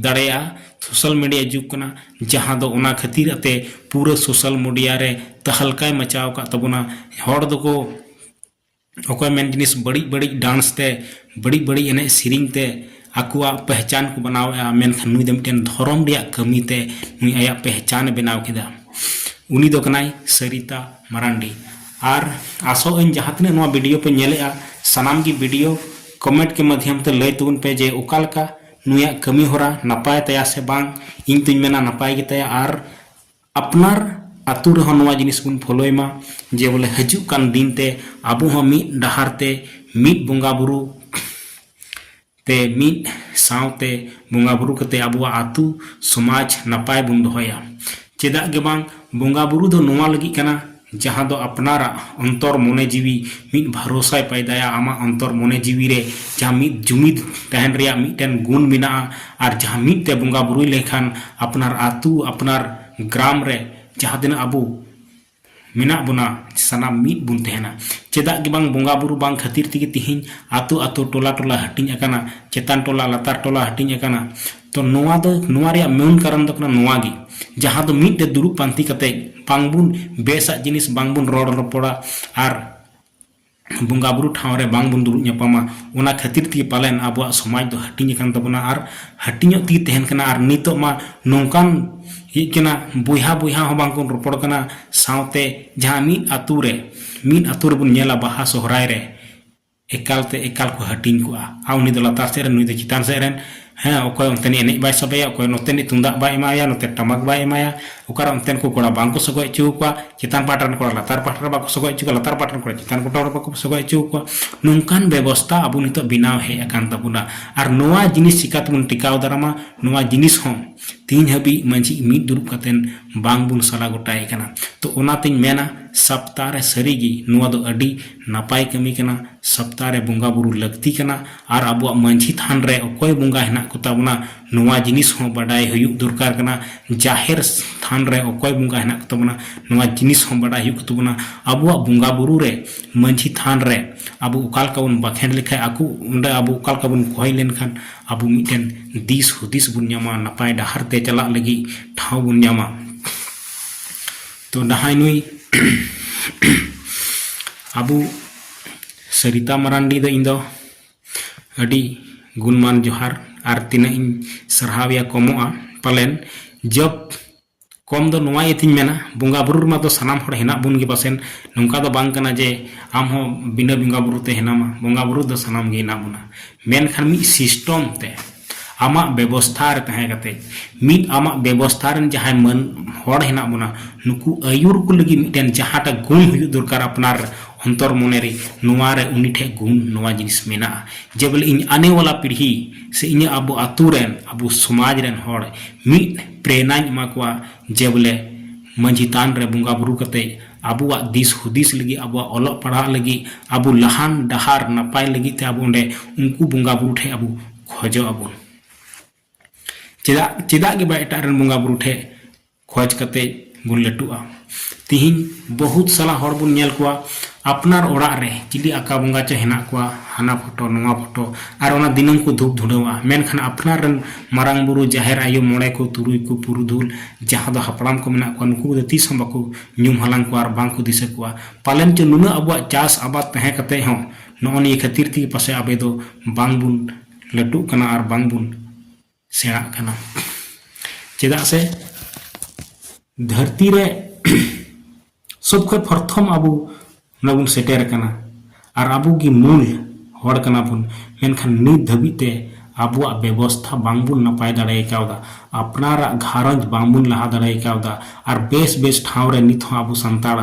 ᱫᱟᱲᱮᱭᱟᱜᱼᱟ ᱥᱳᱥᱟᱞ ᱢᱤᱰᱤᱭᱟ ᱡᱩᱜᱽ ᱠᱟᱱᱟ ᱡᱟᱦᱟᱸ ᱫᱚ ᱚᱱᱟ ᱠᱷᱟᱹᱛᱤᱨ ᱟᱛᱮ ᱯᱩᱨᱟᱹ ᱥᱳᱥᱟᱞ ᱢᱤᱰᱤᱭᱟ ᱨᱮ ᱛᱟᱦᱟᱞᱠᱟᱭ ᱢᱟᱪᱟᱣ ᱟᱠᱟᱫ ᱛᱟᱵᱚᱱᱟ ᱦᱚᱲ ᱫᱚᱠᱚ ᱚᱠᱚᱭ ᱢᱮᱱ ᱡᱤᱱᱤᱥ ᱵᱟᱹᱲᱤᱡ ᱵᱟᱹᱲᱤᱡ ᱰᱟᱱᱥ ᱛᱮ ᱵᱟᱹᱲᱤᱡ ᱵᱟᱹᱲᱤᱡ ᱮᱱᱮᱡ ᱥᱮᱨᱮᱧ ᱛᱮ ᱟᱠᱚᱣᱟᱜ ᱯᱮᱦᱪᱟᱱ ᱠᱚ ᱵᱮᱱᱟᱣᱮᱫᱼᱟ ᱢᱮᱱᱠᱷᱟᱱ ᱱᱩᱭ ᱫᱚ ᱢᱤᱫᱴᱮᱱ ᱫᱷᱚᱨᱚᱢ ᱨᱮᱭᱟᱜ ᱠᱟᱹᱢᱤ ᱛᱮ ᱱᱩᱭ ᱟᱭᱟᱜ ᱯᱮᱦᱪᱟᱱᱮ ᱵᱮᱱᱟᱣ ᱠᱮᱫᱟ ᱩᱱᱤ ᱫᱚ ᱠᱟᱱᱟᱭ ᱥᱟᱹᱨᱤᱛᱟ ᱢᱟᱨᱟᱱᱰᱤ ᱟᱨ ᱟᱥᱚᱜ ᱟᱹᱧ ᱡᱟᱦᱟᱸ ᱛᱤᱱᱟᱹᱜ ᱱᱚᱣᱟ ᱵᱷᱤᱰᱤᱭᱳ ᱯᱮ ᱧᱮᱞᱮᱫᱼᱟ ᱥᱟᱱᱟᱢ ᱜᱮ ᱵᱷᱤᱰᱤᱭᱳ ᱠᱚᱢᱮᱱᱴ ᱠᱮ ᱢᱟᱫᱽᱫᱷᱚᱢ ᱛᱮ ᱞᱟᱹᱭ ᱛᱟᱵᱚᱱ ᱯᱮ ᱡᱮ ᱚᱠᱟ ᱞᱮᱠᱟ ᱱᱩᱭᱟᱜ ᱠᱟᱹᱢᱤ ᱦᱚᱨᱟ ᱱᱟᱯᱟᱭ ᱛᱟᱭᱟ ᱥᱮ ᱵᱟᱝ ᱤᱧ ᱛᱚᱧ ᱢᱮᱱᱟ ᱱᱟᱯᱟᱭ ᱜᱮᱛᱟᱭᱟ ᱟᱨ ᱟᱯᱱᱟᱨ ᱟᱹᱛᱩ ᱨᱮᱦᱚᱸ ᱱᱚᱣᱟ ᱡᱤᱱᱤᱥ ᱵᱚᱱ ᱯᱷᱳᱞᱳᱭ ᱢᱟ ᱡᱮ ᱵᱚᱞᱮ ᱦᱤᱡᱩᱜ ᱠᱟᱱ ᱫᱤᱱ ᱛᱮ ᱟᱵᱚ ᱦᱚᱸ ᱢᱤᱫ ᱰᱟᱦᱟᱨ ᱛᱮ ᱢᱤᱫ ᱵᱚᱸᱜᱟ ᱵᱳᱨᱳ ᱛᱮ ᱢᱤᱫ ᱥᱟᱶᱛᱮ ᱵᱚᱸᱜᱟ ᱵᱳᱨᱳ ᱠᱟᱛᱮ ᱟᱵᱚᱣᱟᱜ ᱟᱹᱛᱩ ᱥᱚᱢᱟᱡᱽ ᱱᱟᱯᱟᱭ ᱵᱚᱱ ᱫᱚᱦᱚᱭᱟ ᱪᱮᱫᱟᱜ ᱜᱮ ᱵᱟᱝ ᱵᱚᱸᱜᱟ ᱵᱳᱨᱳ ᱫᱚ ᱱᱚᱣᱟ ᱞᱟᱹᱜᱤᱫ ᱠᱟᱱᱟ ᱡᱟᱦᱟᱸ ᱫᱚ ᱟᱯᱱᱟᱨᱟᱜ ᱚᱱᱛᱚᱨ ᱢᱚᱱᱮ ᱡᱤᱣᱤ ᱢᱤᱫ ᱵᱷᱟᱨᱚᱥᱟᱭ ᱯᱟᱭᱫᱟᱭᱟ ᱟᱢᱟᱜ ᱚᱱᱛᱚᱨ ᱢᱚᱱᱮ ᱡᱤᱣᱤ ᱨᱮ ᱡᱟᱦᱟᱸ ᱢᱤᱫ ᱡᱩᱢᱤᱫ ᱛᱟᱦᱮᱱ ᱨᱮᱭᱟᱜ ᱢᱤᱫᱴᱮᱱ ᱜᱩᱱ ᱢᱮᱱᱟᱜᱼᱟ ᱟᱨ ᱡᱟᱦᱟᱸ ᱢᱤᱫ ᱛᱮ ᱵᱚᱸᱜᱟ ᱵᱩᱨᱩᱭ ᱞᱮᱠᱷᱟᱱ ᱟᱯᱱᱟᱨ ᱟᱹᱛᱩ ᱟᱯᱱᱟᱨ ᱜᱨᱟᱢ ᱨᱮ ᱡᱟᱦᱟᱸ ᱛᱤᱱᱟᱹᱜ ᱟᱵᱚ ᱢᱮᱱᱟᱜ ᱵᱚᱱᱟ ᱥᱟᱱᱟᱢ ᱢᱤᱫ ᱵᱚᱱ ᱛᱟᱦᱮᱱᱟ ᱪᱮᱫᱟᱜ ᱜᱮ ᱵᱟᱝ ᱵᱚᱸᱜᱟ ᱵᱩᱨᱩ ᱵᱟᱝ ᱠᱷᱟᱹᱛᱤᱨ ᱛᱮᱜᱮ ᱛᱮᱦᱮᱧ ᱟᱹᱛᱩ ᱟᱹᱛᱩ ᱴᱚᱞᱟ ᱴᱚᱞᱟ ᱦᱟᱹᱴᱤᱧ ᱟᱠᱟᱱᱟ ᱪᱮᱛᱟᱱ ᱴᱚᱞᱟ ᱞᱟᱛᱟᱨ ᱴᱚᱞᱟ ᱦᱟᱹᱴᱤᱧ ᱟᱠᱟᱱᱟ ᱛᱚ ᱱᱚᱣᱟ ᱫᱚ ᱱᱚᱣᱟ ᱨᱮᱭᱟᱜ ᱢᱮᱱ ᱠᱟᱨᱚᱱ ᱫᱚ ᱠᱟᱱᱟ ᱱᱚᱣᱟ ᱜᱮ ᱡᱟᱦᱟᱸ ᱫᱚ ᱢᱤᱫ ᱨᱮ ᱫᱩᱲᱩᱵ ᱯᱟᱱᱛᱮ ᱠᱟᱛᱮ ᱵᱟᱝ ᱵᱚᱱ ᱵᱮᱥᱟᱜ ᱡᱤᱱᱤᱥ ᱵᱟᱝ ᱵᱚᱱ ᱨᱚᱲ ᱨᱚᱯᱚᱲᱟ ᱟᱨ ᱵᱚᱸᱜᱟ ᱵᱩᱨᱩ ᱴᱷᱟᱶ ᱨᱮ ᱵᱟᱝ ᱵᱚᱱ ᱫᱩᱲᱩᱵ ᱧᱟᱯᱟᱢᱟ ᱚᱱᱟ ᱠᱷᱟᱹᱛᱤᱨ ᱛᱮᱜᱮ ᱯᱟᱞᱮᱱ ᱟᱵᱚᱣᱟᱜ ᱥᱚᱢᱟᱡᱽ ᱫᱚ ᱦᱟᱹᱴᱤᱧ ᱟᱠᱟᱱ ᱛᱟᱵᱚᱱᱟ ᱟᱨ ᱦᱟᱹᱴᱤᱧᱚᱜ ᱛᱮᱜᱮ ᱛᱟᱦᱮᱱ ᱠᱟᱱᱟ ᱟᱨ ᱱᱤᱛᱚᱜ ᱢᱟ ᱱᱚᱝᱠᱟᱱ ᱦᱮᱡ ᱠᱟᱱᱟ ᱵᱚᱭᱦᱟ ᱵᱚᱭᱦᱟ ᱦᱚᱸ ᱵᱟᱝ ᱵᱚᱱ ᱨᱚᱯᱚᱲ ᱠᱟᱱᱟ ᱥᱟᱶᱛᱮ ᱡᱟᱦᱟᱸ ᱢᱤᱫ ᱟᱹᱛᱩ ᱨᱮ ᱢᱤᱫ ᱟᱹᱛᱩ ᱨᱮᱵᱚᱱ ᱧᱮᱞᱟ ᱵᱟᱦᱟ ᱥᱚᱦᱨᱟᱭ ᱨᱮ ᱮᱠᱟᱞ ᱛᱮ ᱮᱠᱟᱞ ᱠᱚ ᱦᱟᱹᱴᱤᱧ ᱠᱚᱜᱼᱟ ᱟᱨ ᱩᱱᱤ ᱫᱚ ᱞᱟᱛᱟᱨ ᱥᱮᱫ ᱨᱮᱱ ᱱᱩᱭ ᱫᱚ ᱪᱮᱛᱟᱱ ᱥᱮᱫ ᱨᱮᱱ ᱦᱮᱸ ᱚᱠᱚᱭ ᱚᱱᱛᱮᱱᱤᱡ ᱮᱱᱮᱡ ᱵᱟᱭ ᱥᱟᱵᱮᱭᱟ ᱚᱠᱚᱭ ᱱᱚᱛᱮᱱᱤᱡ ᱛᱩᱢᱫᱟᱜ ᱵᱟᱭ ᱮᱢᱟᱭᱟ ᱱᱚᱛᱮ ᱴᱟᱢᱟᱠ ᱵᱟᱭ ᱮᱢᱟᱭᱟ ᱚᱠᱟᱨᱮ ᱚᱱᱛᱮᱱ ᱠᱚ ᱠᱚᱲᱟ ᱵᱟᱝ ᱠᱚ ᱥᱚᱜᱚᱭ ᱦᱚᱪᱚ ᱟᱠᱚᱣᱟ ᱪᱮᱛᱟᱱ ᱯᱟᱦᱴᱟ ᱨᱮᱱ ᱠᱚᱲᱟ ᱞᱟᱛᱟᱨ ᱯᱟᱦᱴᱟ ᱨᱮ ᱵᱟᱠᱚ ᱥᱚᱜᱚᱭ ᱦᱚᱪᱚ ᱠᱚᱣᱟ ᱞᱟᱛᱟᱨ ᱯᱟᱦᱴᱟ ᱨᱮᱱ ᱠᱚᱲᱟ ᱪᱮᱛᱟᱱ ᱯᱟᱦᱴᱟ ᱨᱮ ᱵᱟᱠᱚ ᱥᱚᱜᱚᱭ ᱦᱚᱪᱚ ᱟᱠᱚᱣᱟ ᱱᱚᱝᱠᱟᱱ ᱵᱮᱵᱚᱥᱛᱟ ᱟᱵᱚ ᱱᱤᱛᱚᱜ ᱵᱮᱱᱟᱣ ᱦᱮᱡ ᱟᱠᱟᱱ ᱛᱟᱵᱚᱱᱟ ᱟᱨ ᱱᱚᱣᱟ ᱡᱤᱱᱤᱥ ᱪᱤᱠᱟᱹ ᱛᱮᱵᱚᱱ ᱴᱮᱠᱟᱣ ᱫᱟᱨᱟᱢᱟ ᱱᱚᱣᱟ ᱡᱤᱱᱤᱥ ᱦᱚᱸ ᱛᱤᱦᱤᱧ ᱦᱟᱹᱵᱤᱡ ᱢᱟᱹᱡᱷᱤ ᱢᱤᱫ ᱫᱩᱲᱩᱵ ᱠᱟᱛᱮ ᱵᱟᱝ ᱵᱚᱱ ᱥᱟᱞᱟ ᱜᱚᱴᱟᱭᱮ ᱠᱟᱱᱟ ᱛᱚ ᱚᱱᱟ ᱛᱤᱧ ᱢᱮᱱᱟ ᱥᱟᱯᱛᱟ ᱨᱮ ᱥᱟᱹᱨᱤ ᱜᱮ ᱱᱚᱣᱟ ᱫᱚ ᱟᱹᱰᱤ ᱱᱟᱯᱟᱭ ᱠᱟᱹᱢᱤ ᱠᱟᱱᱟ ᱥᱟᱯᱛᱟ ᱨᱮ ᱵᱚᱸᱜᱟ ᱵᱩᱨᱩ ᱞᱟᱹᱠᱛᱤ ᱠᱟᱱᱟ ᱟᱨ ᱟᱵᱚᱣᱟᱜ ᱢᱟᱹᱡᱷᱤ ᱛᱷᱟᱱ ᱨᱮ ᱚᱠᱚᱭ ᱵᱚᱸᱜᱟ ᱦᱮᱱᱟᱜ ᱠᱚ ᱛᱟᱵᱚᱱᱟ ᱱᱚᱣᱟ ᱡᱤᱱᱤᱥ ᱦᱚᱸ ᱵᱟᱰᱟᱭ ᱦᱩᱭᱩᱜ ᱫᱚᱨᱠᱟᱨ ᱠᱟᱱᱟ ᱡᱟᱦᱮᱨ ᱛᱷᱟᱱ ᱨᱮ ᱚᱠᱚᱭ ᱵᱚᱸᱜᱟ ᱦᱮᱱᱟᱜ ᱠᱚ ᱛᱟᱵᱚᱱᱟ ᱱᱚᱣᱟ ᱡᱤᱱᱤᱥ ᱦᱚᱸ ᱵᱟᱰᱟᱭ ᱦᱩᱭᱩᱜ ᱛᱟᱵᱚᱱᱟ ᱟᱵᱚᱣᱟᱜ ᱵᱚᱸᱜᱟ ᱵᱩᱨᱩ ᱨᱮ ᱢᱟᱹᱡᱷᱤ ᱛᱷᱟᱱ ᱨᱮ ᱟᱵᱚ ᱚᱠᱟ ᱞᱮᱠᱟ ᱵᱚᱱ ᱵᱟᱠᱷᱮᱲ ᱞᱮᱠᱷᱟᱱ ᱟᱠᱚ ᱚᱸᱰᱮ ᱟᱵᱚ ᱚᱠᱟ ᱞᱮᱠᱟ ᱵᱚᱱ ᱠᱚᱭ ᱞᱮᱱᱠᱷᱟᱱ ᱟᱵᱚ ᱢᱤᱫᱴᱮᱱ ᱫᱤᱥ ᱦᱩᱫᱤᱥ ᱵᱚᱱ ᱧᱟᱢᱟ ᱱᱟᱯᱟᱭ ᱰᱟᱦᱟᱨ ᱛᱮ ᱪᱟᱞᱟᱜ ᱞᱟᱹᱜᱤᱫ ᱴᱷᱟᱶ ᱵᱚᱱ ᱧᱟᱢᱟ ᱛᱚ ᱱᱟᱦᱟᱭ ᱱᱩᱭ ᱟᱵᱚ ᱥᱟᱹᱨᱤᱛᱟ ᱢᱟᱨᱟᱱᱰᱤ ᱫᱚ ᱤᱧ ᱫᱚ ᱟᱹᱰᱤ ᱜᱩᱱᱢᱟᱱ ᱡᱚᱦᱟᱨ ᱟᱨ ᱛᱤᱱᱟᱹᱜ ᱤᱧ ᱥᱟᱨᱦᱟᱣᱮᱭᱟ ᱠᱚᱢᱚᱜᱼᱟ ᱯᱟᱞᱮᱱ ᱡᱚᱵ ᱠᱚᱢ ᱫᱚ ᱱᱚᱣᱟ ᱤᱭᱟᱹ ᱛᱤᱧ ᱢᱮᱱᱟ ᱵᱚᱸᱜᱟ ᱵᱩᱨᱩ ᱨᱮᱢᱟ ᱫᱚ ᱥᱟᱱᱟᱢ ᱦᱚᱲ ᱦᱮᱱᱟᱜ ᱵᱚᱱ ᱜᱮ ᱯᱟᱥᱮᱱ ᱱᱚᱝᱠᱟ ᱫᱚ ᱵᱟᱝ ᱠᱟᱱᱟ ᱡᱮ ᱟᱢ ᱦᱚᱸ ᱵᱤᱱᱟᱹ ᱵᱚᱸᱜᱟ ᱵᱩᱨᱩ ᱛᱮ ᱦᱮᱱᱟᱢᱟ ᱵᱚᱸᱜᱟ ᱵᱩᱨᱩ ᱫᱚ ᱥᱟᱱᱟᱢ ᱜᱮ ᱦᱮᱱᱟᱜ ᱵᱚᱱᱟ ᱢᱮᱱᱠᱷᱟᱱ ᱢᱤᱫ ᱥᱤᱥᱴᱚᱢ ᱛᱮ ᱟᱢᱟᱜ ᱵᱮᱵᱚᱥᱛᱷᱟ ᱨᱮ ᱛᱟᱦᱮᱸ ᱠᱟᱛᱮ ᱢᱤᱫ ᱟᱢᱟᱜ ᱵᱮᱵᱚᱥᱛᱷᱟ ᱨᱮᱱ ᱡᱟᱦᱟᱸᱭ ᱢᱟᱹᱱ ᱦᱚᱲ ᱦᱮᱱᱟᱜ ᱵᱚᱱᱟ ᱱᱩᱠᱩ ᱟᱹᱭᱩᱨ ᱠᱚ ᱞᱟᱹᱜᱤᱫ ᱢᱤᱫᱴᱮᱱ ᱡᱟᱦᱟᱸᱴᱟᱜ ᱜᱩᱱ ᱦᱩᱭᱩᱜ ᱫᱚᱨᱠᱟᱨ ᱟᱯᱱᱟᱨ ᱚᱱᱛᱚᱨ ᱢᱚᱱᱮ ᱨᱮ ᱱᱚᱣᱟ ᱨᱮ ᱩᱱᱤ ᱴᱷᱮᱱ ᱜᱩᱱ ᱱᱚᱣᱟ ᱡᱤᱱᱤᱥ ᱢᱮᱱᱟᱜᱼᱟ ᱡᱮ ᱵᱚᱞᱮ ᱤᱧ ᱟᱱᱮ ᱣᱟᱞᱟ ᱯᱤᱲᱦᱤ ᱥᱮ ᱤᱧᱟᱹᱜ ᱟᱵᱚ ᱟᱛᱳ ᱨᱮᱱ ᱟᱵᱚ ᱥᱚᱢᱟᱡᱽ ᱨᱮᱱ ᱦᱚᱲ ᱢᱤᱫ ᱯᱨᱮᱱᱟᱧ ᱮᱢᱟ ᱠᱚᱣᱟ ᱡᱮ ᱵᱚᱞᱮ ᱢᱟᱺᱡᱷᱤ ᱛᱷᱟᱱ ᱨᱮ ᱵᱚᱸᱜᱟ ᱵᱩᱨᱩ ᱠᱟᱛᱮ ᱟᱵᱚᱣᱟᱜ ᱫᱤᱥ ᱦᱩᱫᱤᱥ ᱞᱟᱹᱜᱤᱫ ᱟᱵᱚᱣᱟᱜ ᱚᱞᱚᱜ ᱯᱟᱲᱦᱟᱜ ᱞᱟᱹᱜᱤᱫ ᱟᱵᱚ ᱞᱟᱦᱟᱱ ᱰᱟᱦᱟᱨ ᱱᱟᱯᱟᱭ ᱞᱟᱹᱜᱤᱫ ᱛᱮ ᱟᱵᱚ ᱚᱸᱰᱮ ᱩᱱᱠᱩ ᱵᱚᱸᱜᱟ ᱵᱩᱨᱩ ᱴᱷᱮᱱ ᱟᱵᱚ ᱠᱷᱚᱡᱚᱜ ᱟᱵᱚᱱ ᱪᱮᱫᱟᱜ ᱪᱮᱫᱟᱜ ᱜᱮ ᱵᱟᱝ ᱮᱴᱟᱜ ᱨᱮᱱ ᱵᱚᱸᱜᱟ ᱵᱩᱨᱩ ᱴᱷᱮᱱ ᱠᱷᱚᱡᱽ ᱠᱟᱛᱮ ᱵᱚᱱ ᱞᱟᱹᱴᱩᱜᱼᱟ ᱛᱤᱦᱤᱧ ᱵᱚᱦᱩᱛ ᱥᱟᱞᱟ ᱦᱚᱲ ᱵᱚᱱ ᱧᱮᱞ ᱠᱚᱣᱟ ᱟᱯᱱᱟᱨ ᱚᱲᱟᱜ ᱨᱮ ᱪᱤᱞᱤ ᱟᱠᱟ ᱵᱚᱸᱜᱟ ᱪᱚ ᱦᱮᱱᱟᱜ ᱠᱚᱣᱟ ᱦᱟᱱᱟ ᱯᱷᱳᱴᱳ ᱱᱚᱣᱟ ᱯᱷᱳᱴᱳ ᱟᱨ ᱚᱱᱟ ᱫᱤᱱᱟᱹᱢ ᱠᱚ ᱫᱷᱩᱯ ᱫᱷᱩᱲᱟᱹᱣᱟ ᱢᱮᱱᱠᱷᱟᱱ ᱟᱯᱱᱟᱨ ᱨᱮᱱ ᱢᱟᱨᱟᱝ ᱵᱩᱨᱩ ᱡᱟᱦᱮᱨ ᱟᱭᱳ ᱢᱚᱬᱮ ᱠᱚ ᱛᱩᱨᱩᱭ ᱠᱚ ᱯᱩᱨᱩᱫᱷᱩᱞ ᱡᱟᱦᱟᱸ ᱫᱚ ᱦᱟᱯᱲᱟᱢ ᱠᱚ ᱢᱮᱱᱟᱜ ᱠᱚᱣᱟ ᱱᱩᱠᱩ ᱫᱚ ᱛᱤᱥ ᱦᱚᱸ ᱵᱟᱠᱚ ᱧᱩᱢ ᱦᱟᱞᱟᱝ ᱠᱚᱣᱟ ᱟᱨ ᱵᱟᱝ ᱠᱚ ᱫᱤᱥᱟᱹ ᱠᱚᱣᱟ ᱯᱟᱞᱮᱱ ᱪᱚ ᱱᱩᱱᱟᱹᱜ ᱟᱵᱚᱣᱟᱜ ᱪᱟᱥ ᱟᱵᱟᱫ ᱛᱟᱦᱮᱸ ᱠᱟᱛᱮ ᱦᱚᱸ ᱱᱚᱜᱼᱚ ᱱᱤᱭᱟᱹ ᱠᱷᱟᱹᱛᱤᱨ ᱛᱮᱜᱮ ᱯᱟᱥᱮᱡ ᱟᱵᱚ ᱫᱚ ᱵᱟᱝ ᱵᱚᱱ ᱞᱟᱹᱴᱩᱜ ᱠᱟᱱᱟ ᱟᱨ ᱵᱟᱝ ᱵᱚᱱ ᱥᱮᱬᱟᱜ ᱠᱟᱱᱟ ᱪᱮᱫᱟᱜ ᱥᱮ ᱫᱷᱟᱹᱨᱛᱤ ᱨᱮ ᱥᱚᱵ ᱠᱷᱚᱱ ᱯᱨᱚᱛᱷᱚᱢ ᱟᱵᱚ ᱚᱱᱟ ᱵᱚᱱ ᱥᱮᱴᱮᱨ ᱟᱠᱟᱱᱟ ᱟᱨ ᱟᱵᱚ ᱜᱮ ᱢᱩᱞ ᱦᱚᱲ ᱠᱟᱱᱟ ᱵᱚᱱ ᱢᱮᱱᱠᱷᱟᱱ ᱱᱤᱛ ᱫᱷᱟᱹᱵᱤᱡ ᱛᱮ ᱟᱵᱚᱣᱟᱜ ᱵᱮᱵᱚᱥᱛᱷᱟ ᱵᱟᱝᱵᱚᱱ ᱱᱟᱯᱟᱭ ᱫᱟᱲᱮ ᱠᱟᱣᱫᱟ ᱟᱯᱱᱟᱨᱟᱜ ᱜᱷᱟᱨᱚᱸᱡᱽ ᱵᱟᱝᱵᱚᱱ ᱞᱟᱦᱟ ᱫᱟᱲᱮ ᱠᱟᱣᱫᱟ ᱟᱨ ᱵᱮᱥ ᱵᱮᱥ ᱴᱷᱟᱶ ᱨᱮ ᱱᱤᱛ ᱦᱚᱸ ᱟᱵᱚ ᱥᱟᱱᱛᱟᱲ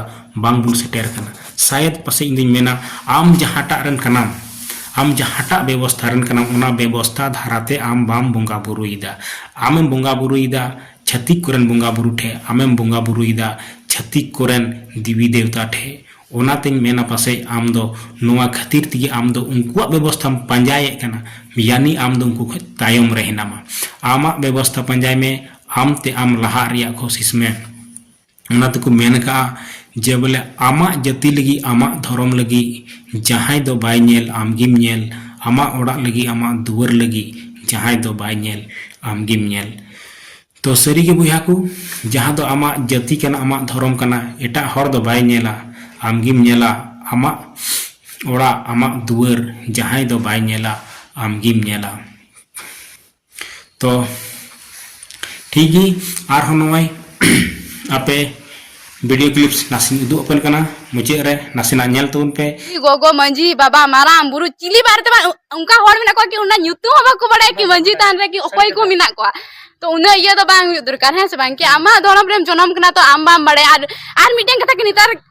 ᱵᱟᱝᱵᱚᱱ ᱥᱮᱴᱮᱨ ᱠᱟᱱᱟ ᱥᱟᱭᱮᱫ ᱯᱟᱥᱮᱡ ᱤᱧ ᱫᱩᱧ ᱢᱮᱱᱟ ᱟᱢ ᱡᱟᱦᱟᱸᱴᱟᱜ ᱨᱮᱱ ᱠᱟᱱᱟᱢ ᱟᱢ ᱡᱟᱦᱟᱸᱴᱟᱜ ᱵᱮᱵᱚᱥᱛᱷᱟ ᱨᱮᱱ ᱠᱟᱱᱟᱢ ᱚᱱᱟ ᱵᱮᱵᱚᱥᱛᱷᱟ ᱫᱷᱟᱨᱟᱛᱮ ᱟᱢ ᱵᱟᱢ ᱵᱚᱸᱜᱟ ᱵᱩᱨᱩᱭᱮᱫᱟ ᱟᱢᱮᱢ ᱵᱚᱸᱜᱟ ᱵᱩᱨᱩᱭᱮᱫᱟ ᱪᱷᱟᱹᱛᱤᱠ ᱠᱚᱨᱮᱱ ᱵᱚᱸᱜᱟ ᱵᱩᱨᱩ ᱴᱷᱮᱡ ᱟᱢᱮᱢ ᱵᱚᱸᱜᱟ ᱵᱩᱨᱩᱭᱮᱫᱟ ᱪᱷᱟᱹᱛᱤᱠ ᱠᱚᱨᱮᱱ ᱫᱮᱵᱤ ᱫᱮᱵᱛᱟ ᱴᱷᱮᱡ ᱚᱱᱟᱛᱮᱧ ᱢᱮᱱᱟ ᱯᱟᱥᱮᱡ ᱟᱢ ᱫᱚ ᱱᱚᱣᱟ ᱠᱷᱟᱹᱛᱤᱨ ᱛᱮᱜᱮ ᱟᱢ ᱫᱚ ᱩᱱᱠᱩᱣᱟᱜ ᱵᱮᱵᱚᱥᱛᱷᱟᱢ ᱯᱟᱸᱡᱟᱭᱮᱫ ᱠᱟᱱᱟ ᱭᱟᱱᱤ ᱟᱢ ᱫᱚ ᱩᱱᱠᱩ ᱠᱷᱚᱡ ᱛᱟᱭᱚᱢ ᱨᱮ ᱦᱮᱱᱟᱢᱟ ᱟᱢᱟᱜ ᱵᱮᱵᱚᱥᱛᱷᱟ ᱯᱟᱸᱡᱟᱭ ᱢᱮ ᱟᱢ ᱛᱮ ᱟᱢ ᱞᱟᱦᱟᱜ ᱨᱮᱭᱟᱜ ᱠᱳᱥᱤᱥ ᱢᱮ ᱚᱱᱟ ᱛᱮᱠᱚ ᱢᱮᱱ ᱟᱠᱟᱫᱼᱟ ᱡᱮ ᱵᱚᱞᱮ ᱟᱢᱟᱜ ᱡᱟᱹᱛᱤ ᱞᱟᱹᱜᱤᱫ ᱟᱢᱟᱜ ᱫᱷᱚᱨᱚᱢ ᱞᱟᱹᱜᱤᱫ ᱡᱟᱦᱟᱸᱭ ᱫᱚ ᱵᱟᱭ ᱧᱮᱞ ᱟᱢ ᱜᱮᱢ ᱧᱮᱞ ᱟᱢᱟᱜ ᱚᱲᱟᱜ ᱞᱟᱹᱜᱤᱫ ᱟᱢᱟᱜ ᱫᱩᱣᱟᱹᱨ ᱞᱟᱹᱜᱤᱫ ᱡᱟᱦᱟᱸᱭ ᱫᱚ ᱵᱟᱭ ᱧᱮᱞ ᱟᱢ ᱜᱮᱢ ᱧᱮᱞ ᱛᱚ ᱥᱟᱹᱨᱤ ᱜᱮ ᱵᱚᱭᱦᱟ ᱠᱚ ᱡᱟᱦᱟᱸ ᱫᱚ ᱟᱢᱟᱜ ᱡᱟᱹᱛᱤ ᱠᱟᱱᱟ ᱟᱢᱟᱜ ᱫᱷᱚᱨᱚᱢ ᱠᱟᱱᱟ ᱮᱴᱟᱜ ᱦᱚᱲ ᱫᱚ ᱵᱟᱭ ᱧᱮᱞᱟ ᱟᱢ ᱜᱮᱢ ᱧᱮᱞᱟ ᱟᱢᱟᱜ ᱚᱲᱟᱜ ᱟᱢᱟᱜ ᱫᱩᱣᱟᱹᱨ ᱡᱟᱦᱟᱸᱭ ᱫᱚ ᱵᱟᱭ ᱧᱮᱞᱟ ᱟᱢ ᱜᱮᱢ ᱧᱮᱞᱟ ᱛᱚ ᱴᱷᱤᱠ ᱜᱮ ᱟᱨᱦᱚᱸ ᱱᱚᱜᱼᱚᱭ ᱟᱯᱮ ᱵᱷᱤᱰᱤᱭᱳ ᱠᱞᱤᱯᱥ ᱱᱟᱥᱮᱧ ᱩᱫᱩᱜ ᱟᱯᱮ ᱠᱟᱱᱟ ᱢᱩᱪᱟᱹᱫ ᱨᱮ ᱱᱟᱥᱮᱱᱟᱜ ᱧᱮᱞ ᱛᱟᱵᱚᱱ ᱯᱮ ᱜᱚᱜᱚ ᱢᱟᱹᱡᱷᱤ ᱵᱟᱵᱟ ᱢᱟᱨᱟᱝ ᱵᱩᱨᱩ ᱪᱤᱞᱤ ᱵᱟᱨᱮᱛᱮ ᱚᱱᱠᱟ ᱦᱚᱲ ᱢᱮᱱᱟᱜ ᱠᱚᱣᱟ ᱠᱤ ᱚᱱᱟ ᱧᱩᱛᱩᱢ ᱦᱚᱸ ᱵᱟᱠᱚ ᱵᱟᱲᱟᱭᱟ ᱠᱤ ᱢᱟᱹᱡᱷᱤ ᱛᱟᱦᱮᱱ ᱨᱮ ᱠᱤ ᱚᱠᱚᱭ ᱠᱚ ᱢᱮᱱᱟᱜ ᱠᱚᱣᱟ ᱛᱚ ᱩᱱᱟᱹᱜ ᱤᱭᱟᱹ ᱫᱚ ᱵᱟᱝ ᱦᱩᱭᱩᱜ ᱫᱚᱨᱠᱟᱨ ᱦᱮᱸ ᱥᱮ ᱵᱟᱝ ᱠᱤ ᱟᱢᱟᱜ ᱫᱷᱚᱨᱚᱢ ᱨᱮᱢ ᱡᱚᱱᱚᱢ ᱠᱟᱱᱟ ᱛᱚ ᱟᱢ ᱵᱟᱢ ᱵᱟᱲᱟᱭᱟ ᱟᱨ ᱟᱨ ᱢᱤᱫᱴᱮᱱ ᱠᱟᱛᱷᱟ ᱠᱤ ᱱᱮᱛᱟᱨ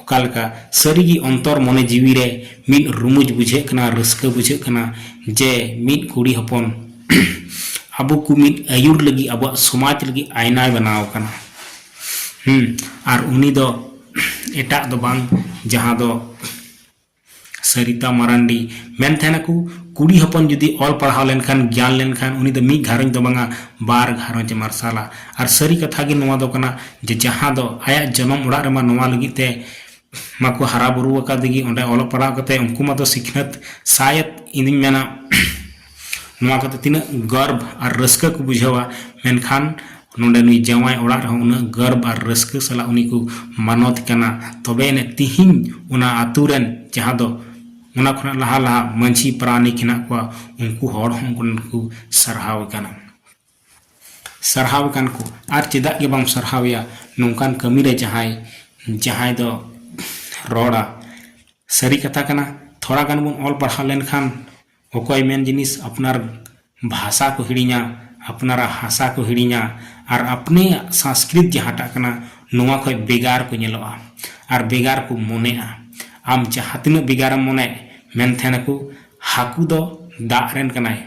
ᱚᱠᱟ ᱞᱮᱠᱟ ᱥᱟᱹᱨᱤ ᱜᱮ ᱚᱱᱛᱚᱨ ᱢᱚᱱᱮ ᱡᱤᱣᱤ ᱨᱮ ᱢᱤᱫ ᱨᱩᱢᱩᱡᱽ ᱵᱩᱡᱷᱟᱹᱜ ᱠᱟᱱᱟ ᱨᱟᱹᱥᱠᱟᱹ ᱵᱩᱡᱷᱟᱹᱜ ᱠᱟᱱᱟ ᱡᱮ ᱢᱤᱫ ᱠᱩᱲᱤ ᱦᱚᱯᱚᱱ ᱟᱵᱚ ᱠᱚ ᱢᱤᱫ ᱟᱹᱭᱩᱨ ᱞᱟᱹᱜᱤᱫ ᱟᱵᱚᱣᱟᱜ ᱥᱚᱢᱟᱡᱽ ᱞᱟᱹᱜᱤᱫ ᱟᱭᱱᱟᱭ ᱵᱮᱱᱟᱣ ᱟᱠᱟᱱᱟ ᱟᱨ ᱩᱱᱤ ᱫᱚ ᱮᱴᱟᱜ ᱫᱚ ᱵᱟᱝ ᱡᱟᱦᱟᱸ ᱫᱚ ᱥᱟᱨᱤᱛᱟ ᱢᱟᱨᱟᱱᱰᱤ ᱢᱮᱱ ᱛᱟᱦᱮᱱᱟᱠᱚ ᱠᱩᱲᱤ ᱦᱚᱯᱚᱱ ᱡᱩᱫᱤ ᱚᱞ ᱯᱟᱲᱦᱟᱣ ᱞᱮᱱᱠᱷᱟᱱ ᱜᱮᱭᱟᱱ ᱞᱮᱱᱠᱷᱟᱱ ᱩᱱᱤ ᱫᱚ ᱢᱤᱫ ᱜᱷᱟᱨᱚᱸᱡᱽ ᱫᱚ ᱵᱟᱝᱟ ᱵᱟᱨ ᱜᱷᱟᱨᱚᱸᱡᱽ ᱮ ᱢᱟᱨᱥᱟᱞᱟ ᱟᱨ ᱥᱟᱹᱨᱤ ᱠᱟᱛᱷᱟ ᱜᱮ ᱱᱚᱣᱟ ᱫᱚ ᱠᱟᱱᱟ ᱡᱮ ᱡᱟᱦᱟᱸ ᱫᱚ ᱟᱭᱟᱜ ᱡᱚᱱᱚᱢ ᱚᱲᱟᱜ ᱨᱮᱢᱟ ᱱᱚᱣᱟ ᱞᱟᱹᱜᱤᱫ ᱛᱮ ᱢᱟᱠᱚ ᱦᱟᱨᱟ ᱵᱩᱨᱩ ᱟᱠᱟᱫᱮ ᱜᱮ ᱚᱸᱰᱮ ᱚᱞᱚᱜ ᱯᱟᱲᱦᱟᱣ ᱠᱟᱛᱮᱫ ᱩᱱᱠᱩ ᱢᱟᱛᱚ ᱥᱤᱠᱷᱱᱟᱹᱛ ᱥᱟᱭᱮᱫ ᱤᱧᱫᱩᱧ ᱢᱮᱱᱟ ᱱᱚᱣᱟ ᱠᱚᱛᱮ ᱛᱤᱱᱟᱹᱜ ᱜᱚᱨᱵ ᱟᱨ ᱨᱟᱹᱥᱠᱟᱹ ᱠᱚ ᱵᱩᱡᱷᱟᱹᱣᱟ ᱢᱮᱱᱠᱷᱟᱱ ᱱᱚᱰᱮ ᱱᱩᱭ ᱡᱟᱶᱟᱭ ᱚᱲᱟᱜ ᱨᱮᱦᱚᱸ ᱩᱱᱟᱹᱜ ᱜᱚᱨᱵ ᱟᱨ ᱨᱟᱹᱥᱠᱟᱹ ᱥᱟᱞᱟᱜ ᱩᱱᱤ ᱠᱚ ᱢᱟᱱᱚᱛ ᱮ ᱠᱟᱱᱟ ᱛᱚᱵᱮ ᱟᱹᱱᱤᱡ ᱛᱤᱦᱤᱧ ᱚᱱᱟ ᱟᱹᱛᱩ ᱨᱮᱱ ᱡᱟᱦᱟᱸ ᱫᱚ ᱚᱱᱟ ᱠᱷᱚᱱᱟᱜ ᱞᱟᱦᱟ ᱞᱟᱦᱟ ᱢᱟᱹᱡᱷᱤ ᱯᱟᱨᱟᱱᱤᱠ ᱦᱮᱱᱟᱜ ᱠᱚᱣᱟ ᱩᱱᱠᱩ ᱦᱚᱲ ᱦᱚᱸ ᱩᱱᱠᱩ ᱠᱚ ᱥᱟᱨᱦᱟᱣ ᱮ ᱠᱟᱱᱟ ᱥᱟᱨᱦᱟᱣ ᱮ ᱠᱟᱱ ᱠᱚ ᱟᱨ ᱪᱮᱫᱟᱜ ᱜᱮ ᱵᱟᱢ ᱥᱟᱨᱦᱟᱣᱮᱭᱟ ᱱᱚᱝᱠᱟᱱ ᱠᱟᱹᱢᱤ ᱨᱮ ᱡᱟᱦᱟᱸᱭ ᱡᱟᱦᱟᱸᱭ ᱫᱚ ᱨᱚᱲᱟ ᱥᱟᱹᱨᱤ ᱠᱟᱛᱷᱟ ᱠᱟᱱᱟ ᱛᱷᱚᱲᱟ ᱜᱟᱱ ᱵᱚᱱ ᱚᱞ ᱯᱟᱲᱦᱟᱣ ᱞᱮᱱᱠᱷᱟᱱ ᱚᱠᱚᱭ ᱢᱮᱱ ᱡᱤᱱᱤᱥ ᱟᱯᱱᱟᱨ ᱵᱷᱟᱥᱟ ᱠᱚ ᱦᱤᱲᱤᱧᱟ ᱟᱯᱱᱟᱨᱟᱜ ᱦᱟᱥᱟ ᱠᱚ ᱦᱤᱲᱤᱧᱟ ᱟᱨ ᱟᱯᱱᱮᱭᱟᱜ ᱥᱟᱸᱥᱠᱨᱤᱛ ᱡᱟᱦᱟᱸᱴᱟᱜ ᱠᱟᱱᱟ ᱱᱚᱣᱟ ᱠᱷᱚᱱ ᱵᱮᱜᱟᱨ ᱠᱚ ᱧᱮᱞᱚᱜᱼᱟ ᱟᱨ ᱵᱮᱜᱟᱨ ᱠᱚ ᱢᱚᱱᱮᱜᱼᱟ ᱟᱢ ᱡᱟᱦᱟᱸ ᱛᱤᱱᱟᱹᱜ ᱵᱮᱜᱟᱨᱮᱢ ᱢᱚᱱᱮ ᱢᱮᱱ ᱛᱟᱦᱮᱱᱟᱠᱚ ᱦᱟᱹᱠᱩ ᱫᱚ ᱫᱟᱜ ᱨᱮᱱ ᱠᱟᱱᱟᱭ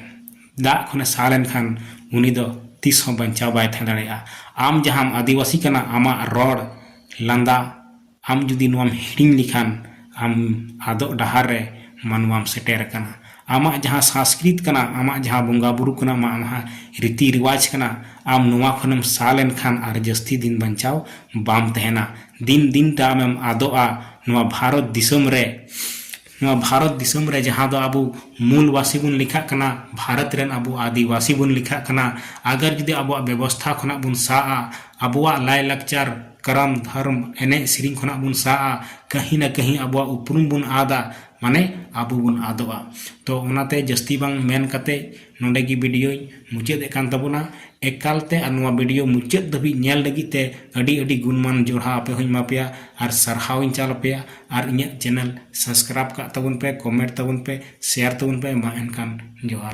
ᱫᱟᱜ ᱠᱷᱚᱱᱮ ᱥᱟᱦᱟ ᱞᱮᱱᱠᱷᱟᱱ ᱩᱱᱤ ᱫᱚ ᱛᱤᱥ ᱦᱚᱸ ᱵᱟᱧᱪᱟᱣ ᱵᱟᱭ ᱛᱟᱦᱮᱸ ᱫᱟᱲᱮᱭᱟᱜᱼᱟ ᱟᱢ ᱡᱟᱦᱟᱸᱢ ᱟᱹᱫᱤᱵᱟᱹᱥᱤ ᱠᱟᱱᱟ ᱟᱢᱟᱜ ᱨᱚᱲ ᱞᱟᱸᱫᱟ ᱟᱢ ᱡᱩᱫᱤ ᱱᱚᱣᱟᱢ ᱦᱤᱲᱤᱧ ᱞᱮᱠᱷᱟᱱ ᱟᱢ ᱟᱫᱚᱜ ᱰᱟᱦᱟᱨ ᱨᱮ ᱢᱟᱱᱣᱟᱢ ᱥᱮᱴᱮᱨ ᱟᱠᱟᱱᱟ᱾ ᱟᱢᱟᱜ ᱡᱟᱦᱟᱸ ᱥᱟᱸᱥᱠᱨᱤᱛ ᱠᱟᱱᱟ, ᱟᱢᱟᱜ ᱡᱟᱦᱟᱸ ᱵᱚᱸᱜᱟ ᱵᱩᱨᱩ ᱠᱟᱱᱟ, ᱟᱢᱟᱜ ᱡᱟᱦᱟᱸ ᱨᱤᱛᱤ ᱨᱮᱣᱟᱡᱽ ᱠᱟᱱᱟ, ᱟᱢ ᱱᱚᱣᱟ ᱠᱷᱚᱱ ᱮᱢ ᱥᱟᱦᱟ ᱞᱮᱱ ᱠᱷᱟᱱ ᱟᱨ ᱡᱟᱹᱥᱛᱤ ᱫᱤᱱ ᱵᱟᱧᱪᱟᱣ ᱵᱟᱢ ᱛᱟᱦᱮᱸᱱᱟ᱾ ᱫᱤᱱ ᱫᱤᱱ ᱛᱮ ᱟᱢᱮᱢ ᱟᱫᱚᱜᱼᱟ ᱱᱚᱣᱟ ᱵᱷᱟᱨᱚᱛ ᱫᱤᱥᱚᱢ ᱨᱮ᱾ ᱱᱚᱣᱟ ᱵᱷᱟᱨᱚᱛ ᱫᱤᱥᱚᱢ ᱨᱮ ᱡᱟᱦᱟᱸ ᱫᱚ ᱟᱵᱚ ᱢᱩᱞ ᱵᱟᱥᱤ ᱵᱚᱱ ᱞᱮᱠᱷᱟᱜ ᱠᱟᱱᱟ ᱵᱷᱟᱨᱚᱛ ᱨᱮᱱ ᱟᱵᱚ ᱟᱹᱫᱤᱵᱟᱹᱥᱤ ᱵᱚᱱ ᱞᱮᱠᱷᱟᱜ ᱠᱟᱱᱟ ᱟᱜᱟᱨ ᱡᱩᱫᱤ ᱟᱵᱚᱣᱟᱜ ᱵᱮᱵᱚᱥᱛᱷᱟ ᱠᱷᱚᱱᱟᱜ ᱵᱚᱱ ᱥᱟᱦᱟᱜᱼᱟ ᱟᱵᱚᱣᱟᱜ ᱞᱟᱭ ᱞᱟᱠᱪᱟᱨ ᱠᱟᱨᱟᱢ ᱫᱷᱚᱨᱚᱢ ᱮᱱᱮᱡ ᱥᱮᱨᱮᱧ ᱠᱷᱚᱱᱟᱜ ᱵᱚᱱ ᱥᱟᱦᱟᱜᱼᱟ ᱠᱟᱹᱦᱤ ᱱᱟ ᱠᱟᱹᱦᱤ ᱟᱵᱚᱣᱟᱜ ᱩᱯᱨᱩᱢ ᱵᱚᱱ ᱟᱫᱟ ᱢᱟᱱᱮ ᱟᱵᱚ ᱵᱚᱱ ᱟᱫᱚᱜᱼᱟ ᱛᱚ ᱚᱱᱟᱛᱮ ᱡᱟᱹᱥᱛᱤ ᱵᱟᱝ ᱢᱮᱱ ᱠᱟᱛᱮ ᱱᱚᱰᱮ ᱜᱮ ᱵᱤᱰᱤᱭᱳᱧ ᱢᱩᱪᱟᱹᱫ ᱮᱫ ᱠᱟᱱ ᱛᱟᱵᱚᱱᱟ ᱮᱠᱟᱞᱛᱮ ᱟᱨ ᱱᱚᱣᱟ ᱵᱤᱰᱤᱭᱳ ᱢᱩᱪᱟᱹᱫ ᱫᱷᱟᱹᱵᱤᱡ ᱧᱮᱞ ᱞᱟᱹᱜᱤᱫ ᱛᱮ ᱟᱹᱰᱤ ᱟᱹᱰᱤ ᱜᱩᱱᱢᱟᱱ ᱡᱚᱦᱟᱨ ᱟᱯᱮ ᱦᱚᱸᱧ ᱮᱢᱟ ᱯᱮᱭᱟ ᱟᱨ ᱥᱟᱨᱦᱟᱣ ᱤᱧ ᱪᱟᱞ ᱟᱯᱮᱭᱟ ᱟᱨ ᱤᱧᱟᱹᱜ ᱪᱮᱱᱮᱞ ᱥᱟᱵᱥᱠᱨᱟᱭᱤᱵᱽ ᱠᱟᱜ ᱛᱟᱵᱚᱱ ᱯᱮ ᱠᱚᱢᱮᱱᱴ ᱛᱟᱵᱚᱱ ᱯᱮ ᱥᱮᱭᱟᱨ ᱛᱟᱵᱚᱱ ᱯᱮ ᱢᱟ ᱮᱱᱠᱷᱟᱱ ᱡᱚᱦᱟᱨ